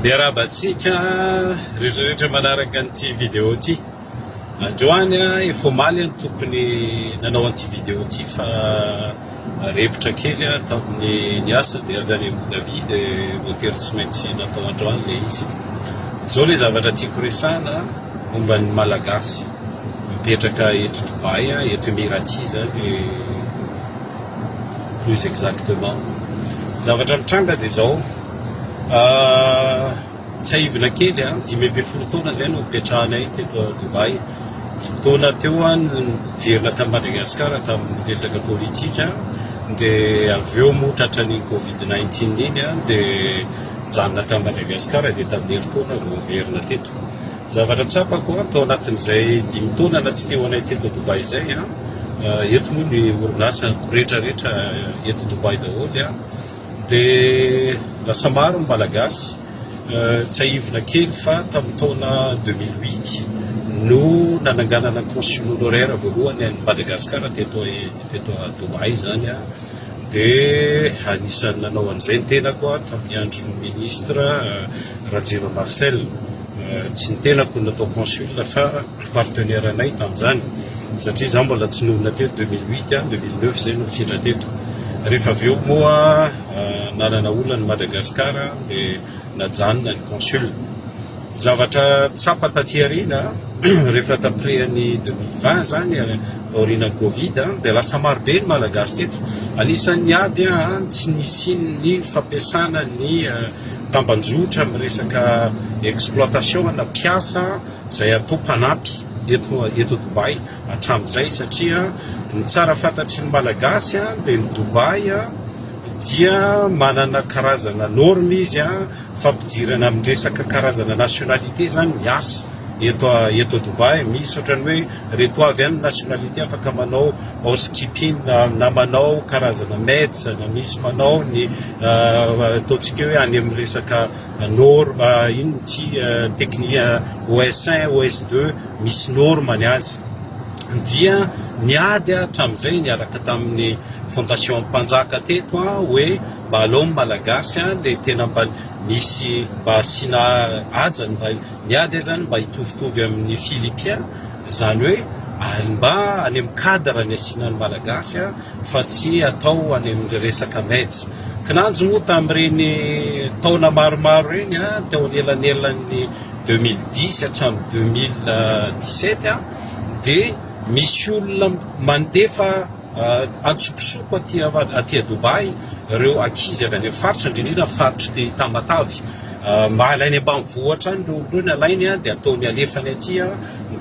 Miarahaba antsika rehetra rehetra manaraka an'ity vidéo ity. Androany efa omaly no tokony nanao an'ity vidéo ity fa repotra kely aho tamin'ny ny asa dia avy any Abu Dhabi dia voatery tsy maintsy natao androany ilay izy. Izao ilay zavatra tiako resahana momba ny Malagasy mipetraka eto Dubaï, eto Emirati izany plus exactement. Zavatra mitranga dia izao. Tsiahivina kely an, dimy ambin'ny folo taona izay no nipetrahanay teto à Dubaï. Dimy taona teo aho no niverina tany Madagasikara tamin'ny resaka politika dia avy eo moa tratra ny covid 19 iny an dia nijanona tany Madagasikara dia tamin'ny herintaona vao niverina teto. Zavatra tsapako an, tao anatin'izay dimy taona na tsy teo anay teto à Dubaï izay an, eto moa ny orinasa retraretra eto Dubaï daholo an, Dia lasa maro ny Malagasy. Tsiahivina kely fa tamin'ny taona deux mille huit no nananganana ny consul honoraire voalohany an'i Madagasikara teto teto à Dubaï izany an, dia anisan'ny nanao an'izay ny tenako an, tamin'ny andron'ny ministra Rajiva Marcel, tsy ny tenako no natao consul fa. partenaire anay tamin'izany satria izaho mbola tsy nonina teo deux mille huit an, deux mille neuf izay no nifindra teto rehefa avy eo moa nanana olana i Madagascar dia najanona ny consul zavatra tsapa taty aoriana rehefa tapirehan'ny deux mille vingt izany taorianan'ny covid an dia lasa maro be ny malagasy teto anisan'ny ady an tsy nisian'ny fampiasana ny tambanjotra amin'ny resaka exploitation ana mpiasa izay atao mpanampy eto eto Dubaï hatramin'izay satria ny tsara fantatry ny Malagasy dia ny Dubaï dia manana karazana norme izy a fampidirana amin'ny resaka karazana nationalité izany miasa eto eto Dubaï misy ohatrany hoe reto avy any nationalité afaka manao housekeeping na manao karazana maids na misy manao ny ataontsika hoe any amin'ny resaka Norme inona ity teknia OS un, OS deux misy norme ny azy dia niady hatramin'izay niaraka tamin'ny fondation mpanjaka teto an hoe mba aleo ny malagasy an le tena mba misy mba asiana hajany mba niady aza ny mba hitovitovy amin'ny filipien Izany hoe ary mba any amin'ny cadre ny asiana ny Malagasy fa tsy atao any amin'ny resaka meds. Kinanjo moa tamin'ireny taona maromaro ireny teo anelanelan'ny deux mille dix hatramin'ny deux mille dix sept dia misy olona mandefa Antsokosoko aty aty à Dubaï ireo ankizy avy any amin'ny faritra indrindra ny faritr'i Tamatave. Mba alainy ambanivohitra any ireo olona ireo ny alainy dia ataony alefany aty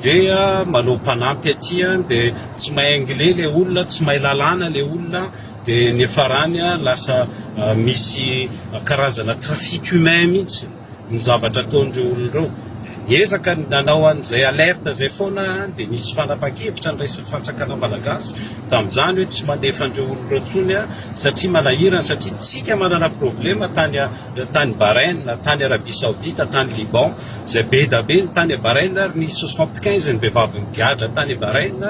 dia manao mpanampy aty dia tsy mahay anglais ilay olona, tsy mahay lalàna ilay olona dia ny farany lasa misy karazana trafic humain mihitsy. ny zavatra ataon'ireo olona ireo. Niezaka ny nanao an'izay alerte izay foana aho dia nisy fanapan-kevitra niraisin'ny fantsakana malagasy tamin'izany hoe tsy mandefa an'ireo olona ireo intsony aho satria manahirana satria tsika manana problema tany tany Bahrain, tany Arabie Saoudite, tany Liban izay be da be ny tany Bahrain ary nisy soixante quinze ny vehivavy nigadra tany Bahrain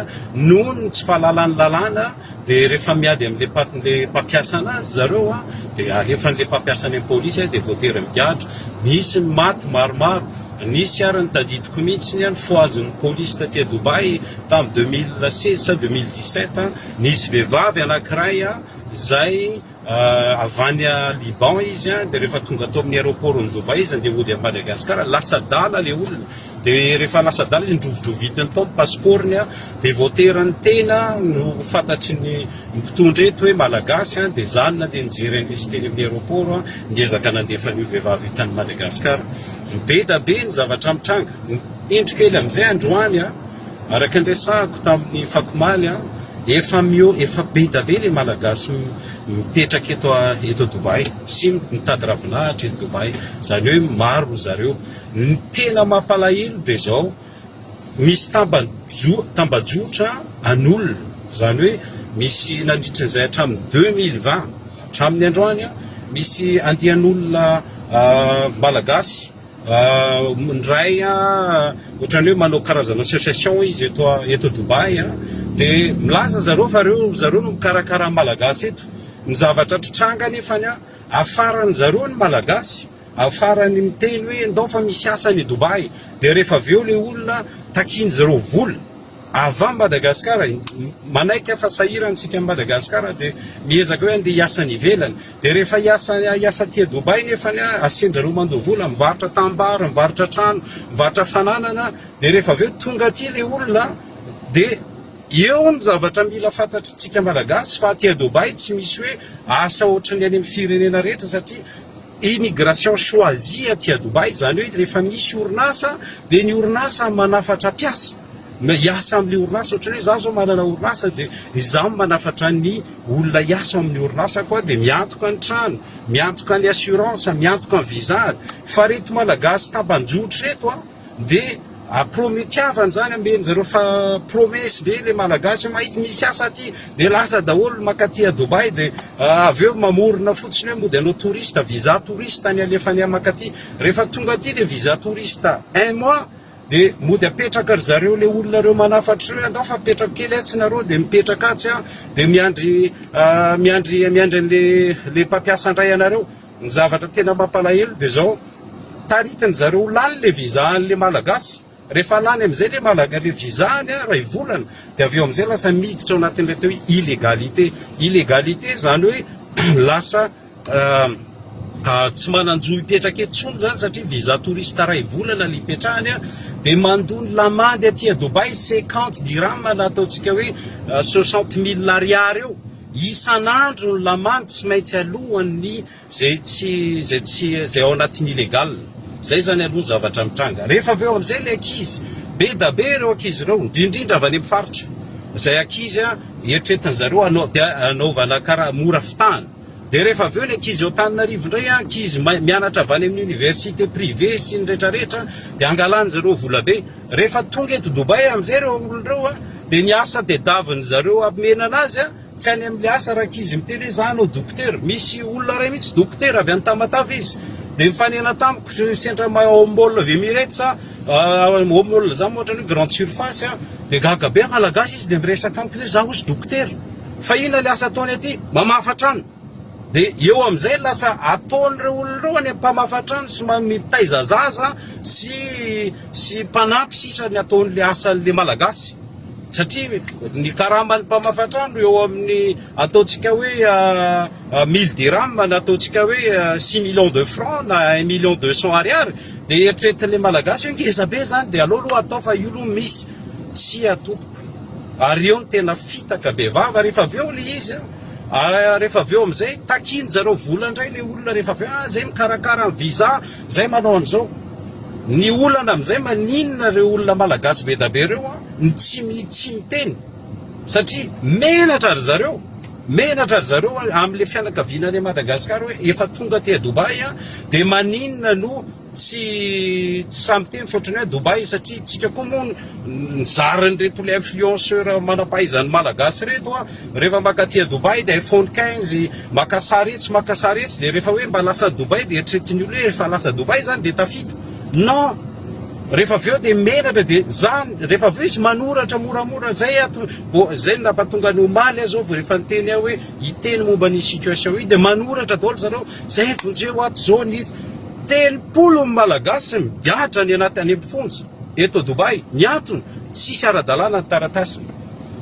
noho ny tsy fahalalan'ny lalàna. Dia rehefa miady amin'ilay mpatin'ilay mpampiasa anazy zareo a, dia alefan'ilay mpampiasa any amin'ny polisy a, dia voatery migadra. Misy ny maty maromaro. Nisy ary ny tadidiko mihitsy a, nifohazin'ny polisy taty à Dubaï tamin'ny deux mille seize sa deux mille dix-sept a, nisy vehivavy anankiray a, izay. Avy any Liban izy dia rehefa tonga tao amin'ny aéroport ny Dubaï izy andeha hody any Madagascar, lasa adala ilay olona, dia rehefa lasa adala izy nodrovidrovitiny tao ny passeport ny dia vao teran'ny tena no fantatry ny mpitondra eto hoe Malagasy an, dia za no nandeha nijery an'ilay izy teny amin'ny aéroport an, niezaka nandefa an'io vehivavy io tany Madagascar, be da be ny zavatra mitranga, indro kely amin'izay androany an. Araka ny resahako tamin'ny fako omaly an, efa miho, efa be da be le malagasy mipetraka eto a, eto Dubaï sy mitady ravinahitra eto Dubaï, zany hoe maro ry zareo, ny tena mampalahelo de zao, misy tambajo, tambajotra an'olona, zany hoe misy nandritry ny zay hatramin'ny deux mille vingt hatramin'ny androany an, misy andian'olona malagasy Ny iray ohatran'ny hoe manao karazana association izy eto eto Dubaï a, dia milaza zareo fa reo ry zareo no mikarakara ny Malagasy eto, ny zavatra trtranga nefany a afaran'ny zareo ny Malagasy, afarany miteny hoe ndao fa misy asa any Dubaï, dia rehefa avy eo le olona takian'ny zareo vola avy any Madagascar, manaiky aho fa sahirana isika any Madagascar dia miezaka hoe andeha hiasa any ivelany. Dia rehefa hiasa hiasa aty Dubaï nefany a, asian-dRareo mandoa vola, mivarotra tanimbary, mivarotra trano, mivarotra fananana, dia rehefa avy eo tonga aty ilay olona dia eo ny zavatra mila fantatr'tsika Malagasy fa aty Dubaï tsy misy hoe asa ohatry ny any amin'ny firenena rehetra satria immigration choisie aty Dubaï, izany hoe rehefa misy orinasa dia ny orinasa manafatra mpiasa. Na hiasa amin'ny orinasa ohatra hoe izaho izao manana orinasa dia izaho no manafatra ny olona hiasa ao amin'ny orinasako aho dia miantoka ny trano, miantoka ny assurance, miantoka ny visa fa ireto malagasy tambanjotra ireto an dia promet-tiavana izany omeny zareo fa promesse be ilay malagasy hoe mahita misy asa aty dia lasa daholo maka aty à Dubaï dia avy eo mamorona fotsiny hoe mody anao touriste, visa touriste ny alefany maka aty, rehefa tonga aty ilay visa touriste un mois De mody apetraka ry zareo le olona reo manafatra reo andao fa apetrako kely atsy nareo de mipetraka atsy an de miandry miandry miandry anle le mpampiasa andray anareo ny zavatra tena mampalahelo de zao taritiny zareo lany le visa anle malagasy rehefa lany amizay le malaga le visa any an ray volana de aveo amizay lasa miditra ao anatinle teo illegalité illegalité zany hoe lasa tsy manan-jo hipetraka eto intsony zany satria visa touriste iray volana le hipetrahany a dia mandoa ny lamandy aty a Dubaï cinquante dirham na ataontsika hoe soixante mille ariary eo isan'andro ny lamandy tsy maintsy alohan'ny zay tsy zay tsy zay ao anatin'ny illégal zay zany aloha ny zavatra mitranga rehefa avy eo amin'izay le ankizy be da be ireo ankizy ireo indrindrindra avy any amin'ny faritra izay ankizy a eritreretin'ny zareo anao dia anaovana karaha mora fitahana Dia rehefa avy eo ny ankizy ao Antananarivo indray an, ankizy mianatra avy any amin'ny université privée sy ny rehetra rehetra dia angalan'izy ireo volabe. Rehefa tonga eto Dubaï amin'izay ireo olona ireo an, dia ny asa tadiavin'izy ireo hamena an'azy an, tsy any amin'ny asa raha ankizy miteny hoe za hanao dokotera. Misy olona iray mihitsy dokotera avy any Tamatave izy dia nifanena tamiko sy sendra ao mall of Emirates an, ao mall izany moa ohatran'ny hoe grande surface an, dia gaga be an, malagasy izy dia miresaka amiko hoe za hozy dokotera. Fa inona le asa ataony aty? Mamafa trano. Dia eo amin'izay lasa ataon'ireo olona ireo any amin'ny mpamafa trano sy mitaiza zaza sy sy mpanampy sisa ny ataon'ilay asan'ilay Malagasy. Satria ny karaman'ny mpamafa trano eo amin'ny ataontsika hoe mille dirhams na ataontsika hoe six millions de francs na un million deux cents ariary dia eritreretin'ilay Malagasy hoe ngeza be izany dia aleo aloha atao fa io aloha misy. Tsia tompoko. Ary eo no tena fitaka be vava rehefa avy eo le izy an! ary rehefa avy eo amizay takin zareo vola ndray le olona rehefa avy eo, ah zay mikarakara ny visa, zay manao anizao, ny olana amizay maninona reo olona malagasy bedabe reo an no tsy mi tsy miteny satria menatra ry zareo, menatra ry zareo amle fianakaviana any Madagascar hoe efa tonga aty a Dubaï an dia maninona no. Tsy sahy miteny fa ohatran'ny hoe Dubaï satria isika koa moa nizara an'ireto ilay influenceur manam-pahaizan'ny Malagasy ireto a, rehefa maka aty Dubaï dia iPhone 15, maka sary etsy maka sary etsy dia rehefa hoe mba lasa Dubaï dia eritreretin'ny olona hoe efa lasa Dubaï izany dia tafita. Non! Rehefa avy eo dia menatra dia izany, rehefa avy eo izy manoratra moramora izay ato vao izay no nampatonga an'i omaly aho izao vao efa niteny aho hoe hiteny momba an'io situation io dia manoratra daholo zareo izay vonjeo ato izao nisy Telopolo ny Malagasy migadra any anaty any am-ponja eto Dubai, ny antony tsisy ara-dalàna ny taratasiny.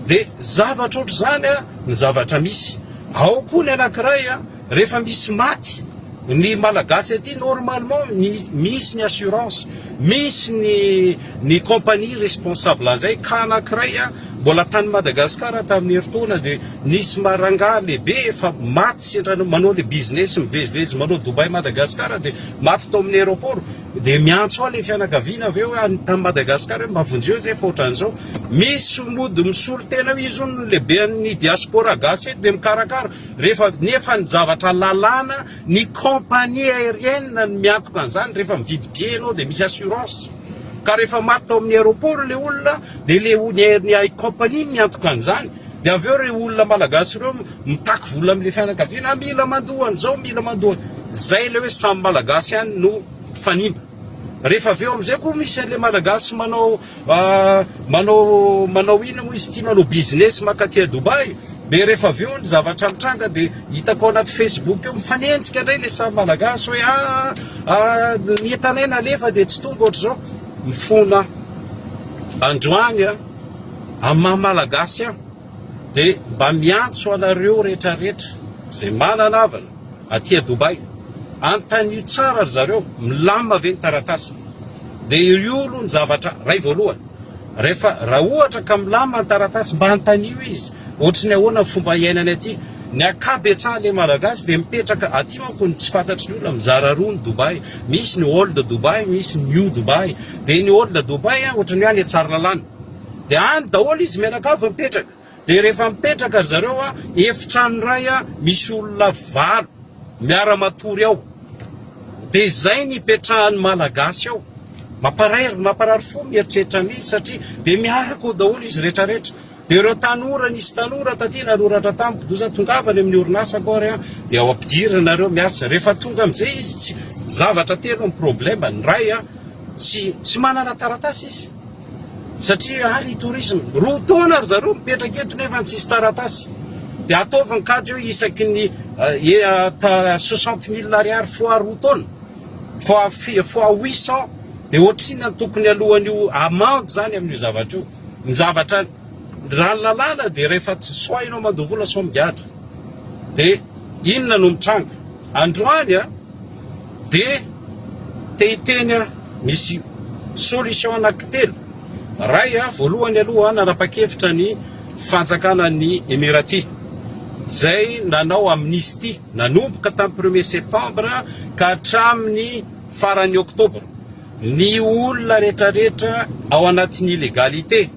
Dia zavatra ohatr'izany ny zavatra misy. Ao koa ny anankiray, rehefa misy maty ny Malagasy aty, normalement misy ny assurance, misy ny ny compagnie responsable an'izay, ka anankiray. Mbola tany Madagasikara tamin'ny herintaona dia nisy marangaha lehibe efa maty sendra manao le business mivezivezy manao Dubai Madagasikara dia maty tao amin'ny aeroport dia miantso ahy le fianakaviana avy eo any tamin'ny Madagasikara hoe mba vonjeo izay fa ohatran'izao misy mody misolo tena io izy no lehiben'ny diaspora gasy eto dia mikarakara rehefa nefa ny zavatra lalàna ny compagnie aérienne no miantoka an'izany rehefa mividy billet ianao dia misy assurance ka rehefa maty tao amin'ny aeroport le olona Dia le ho ny air ny air company no miantoka an'izany dia avy eo reo olona malagasy ireo mitaky vola amle fianakaviana ah mila mandoa an'izao mila mandoa zay le hoe samy malagasy ihany no fanimba rehefa avy eo am'izay koa misy an'le malagasy manao manao manao ina moa izy ity manao business makaty à Dubaï dia rehefa avy eo ny zavatra mitranga dia hitako ao anaty facebook eo mifanenjika indray le samy malagasy hoe ah ny entanay nalefa dia tsy tonga ohatr'izao Mifona androany a! Amin'ny maha Malagasy ahy dia mba miantso anareo retraretra izay manana havana aty a Dubaï, antanio tsara ry zareo milamina ve ny taratasiny? Dia io aloha ny zavatra ray voalohany, rehefa raha ohatra ka milamina ny taratasy mba antanio izy, Ohatry ny ahoana ny fomba iainany aty? Ny akabetsahan le Malagasy dia mipetraka aty manko no tsy fantatry ny olona, mizara roa ny Dubai, misy ny old Dubai, misy ny new Dubai, dia ny old Dubai an ohatry ny hoe any Tsaralalana, dia any daholo izy mianakavy mipetraka, dia rehefa mipetraka ry zareo an efitrano iray an misy olona valo miara matory ao, dia izay ny ipetrahan'ny Malagasy ao, mamparay mamparary fo ny mieritreritra an'izy satria dia miaraka ao daholo izy rehetra rehetra. Dia ireo tanora, nisy tanora taty nanoratra tamiko, Doza tongava any amin'ny orinasako ary an, dia ao ampidirina nareo miasa. Rehefa tonga amin'izay izy, tsy, zavatra telo ny problème, ny iray an, tsy, tsy manana taratasy izy, satria any tourisme, roa taona ry zareo mipetraka eto nefa tsisy taratasy, dia ataovy ny kajy hoe isaky ny soixante mille ariary fois roa taona, fois, fois huit cent, dia ohatrinona ny tokony alohan'io amende izany amin'io zavatra io. Ny zavatra raha ny lalàna dia rehefa tsy soa ianao mandoa vola sao migadra dia inona no mitranga? Androany a dia te hiteny a misy solution anankitelo. Ray a voalohany aloha nanapa-kevitra ny fanjakana ny Emirati izay nanao amnistie nanomboka tamin'ny premier septembre ka hatramin'ny faran'ny octobre. Ny olona retraretra ao anatin'ny illegalité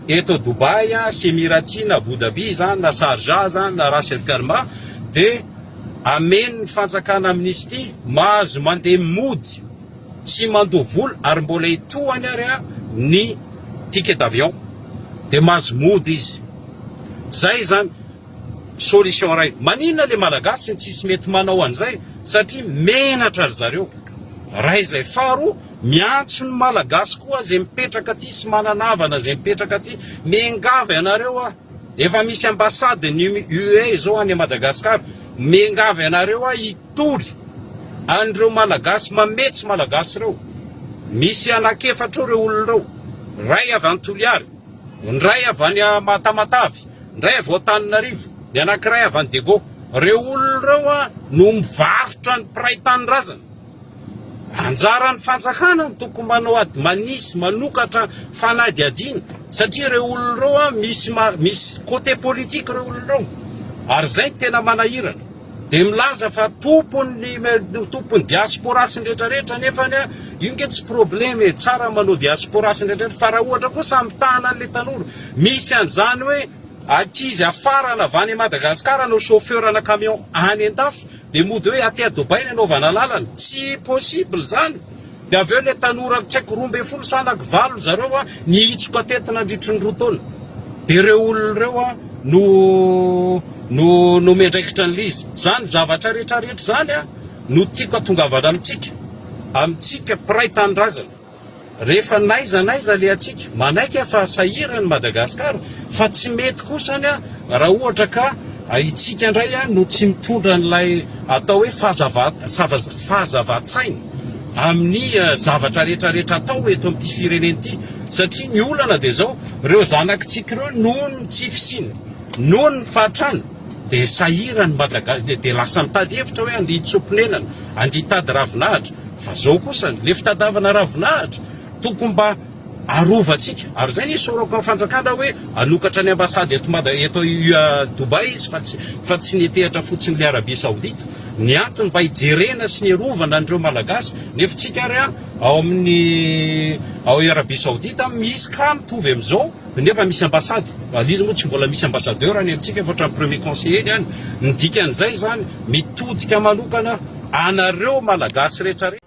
eto Dubaï sy Emiraty na Abu Dhabi izany na Sharjah izany na Ras El Kherma dia amen'ny fanjakana amnistie mahazo mandeha mody sy mandoa vola ary mbola etoany ary ny ticket d'avion dia mahazo mody izy. Izay izany. Solution ray. Maninona le malagasy no tsisy mety manao an'izay satria menatra ry zareo. Ray izay. Faharoa, miantso ny malagasy koa izay mipetraka aty sy manana havana izay mipetraka aty. Miangavy anareo aho. Efa misy ambassade ny UE izao any Madagascar. Miangavy anareo aho hitory an'ireo malagasy mamehy tsy malagasy ireo. Misy anak'efatra eo ireo olona ireo. Ray avy any Toliary. Ny ray avy any Mahatamatavy. Indray avy ao Antananarivo, ny anankiray avy any Dego. Ireo olona ireo an no mivarotra ny mpiray tanindrazana. Anjaran'ny fanjakana no tokony manao ady manisy manokatra fanadihadiana satria ireo olona ireo an misy misy côté politique ireo olona ireo. Ary izay no tena manahirana. Dia milaza fa tompon'ny tompon'ny diaspora sy ny rehetra rehetra nefa ny io nge tsy problème e tsara manao diaspora sy ny rehetra fa raha ohatra koa samy mitahana an'ilay tanora misy an'izany hoe ankizy afarana avy any Madagascar no chauffeur ana camion any an-dafy dia mody hoe aty à Dubaï ny anaovana lalana tsy possible izany Dia avy eo ilay tanora tsy haiko roa ambin'ny folo sa anaky valo zareo nihitsoka teto nandritry ny roa taona. Dia ireo olona ireo no no nomena andraikitra an'ilay izy. Izany zavatra rehetra rehetra izany no tiako hatongavana amintsika, amintsika mpiray tanindrazana. Rehefa n'aiza n'aiza alehantsika, manaiky aho fa sahirana i Madagasikara fa tsy mety kosa ny raha ohatra ka itsika indray no tsy mitondra an'ilay atao hoe fahazava, fahazavan-tsaina amin'ny zavatra rehetra rehetra atao eto amin'ity firenena ity satria ny olana dia izao ireo zanakitsika ireo noho ny tsy fisiana noho ny fahatrana dia sahirany madaga dia lasa mitady hevitra hoe andia tsoponenana andia hitady ravinahitra fa zao kosa le fitadavana ravinahitra tokony mba arovantsika ary zay ny isaorako an fanjakana hoe anokatra ny ambassade eto mada eto UA Dubaï izy fa tsy fa tsy netehatra fotsiny le Arabie Saoudite ny antony mba hijerena sy ny arovana an'ireo malagasy nefa tsika ary an ao amin'ny ao i Arabie Saoudite an misy cas mitovy am'izao nefa misy ambassade ary izy moa tsy mbola misy ambassadeur any amintsika fa ohatran'ny premier conseiller ny any ny dikan'izay zany mitodika manokana anareo malagasy retraretra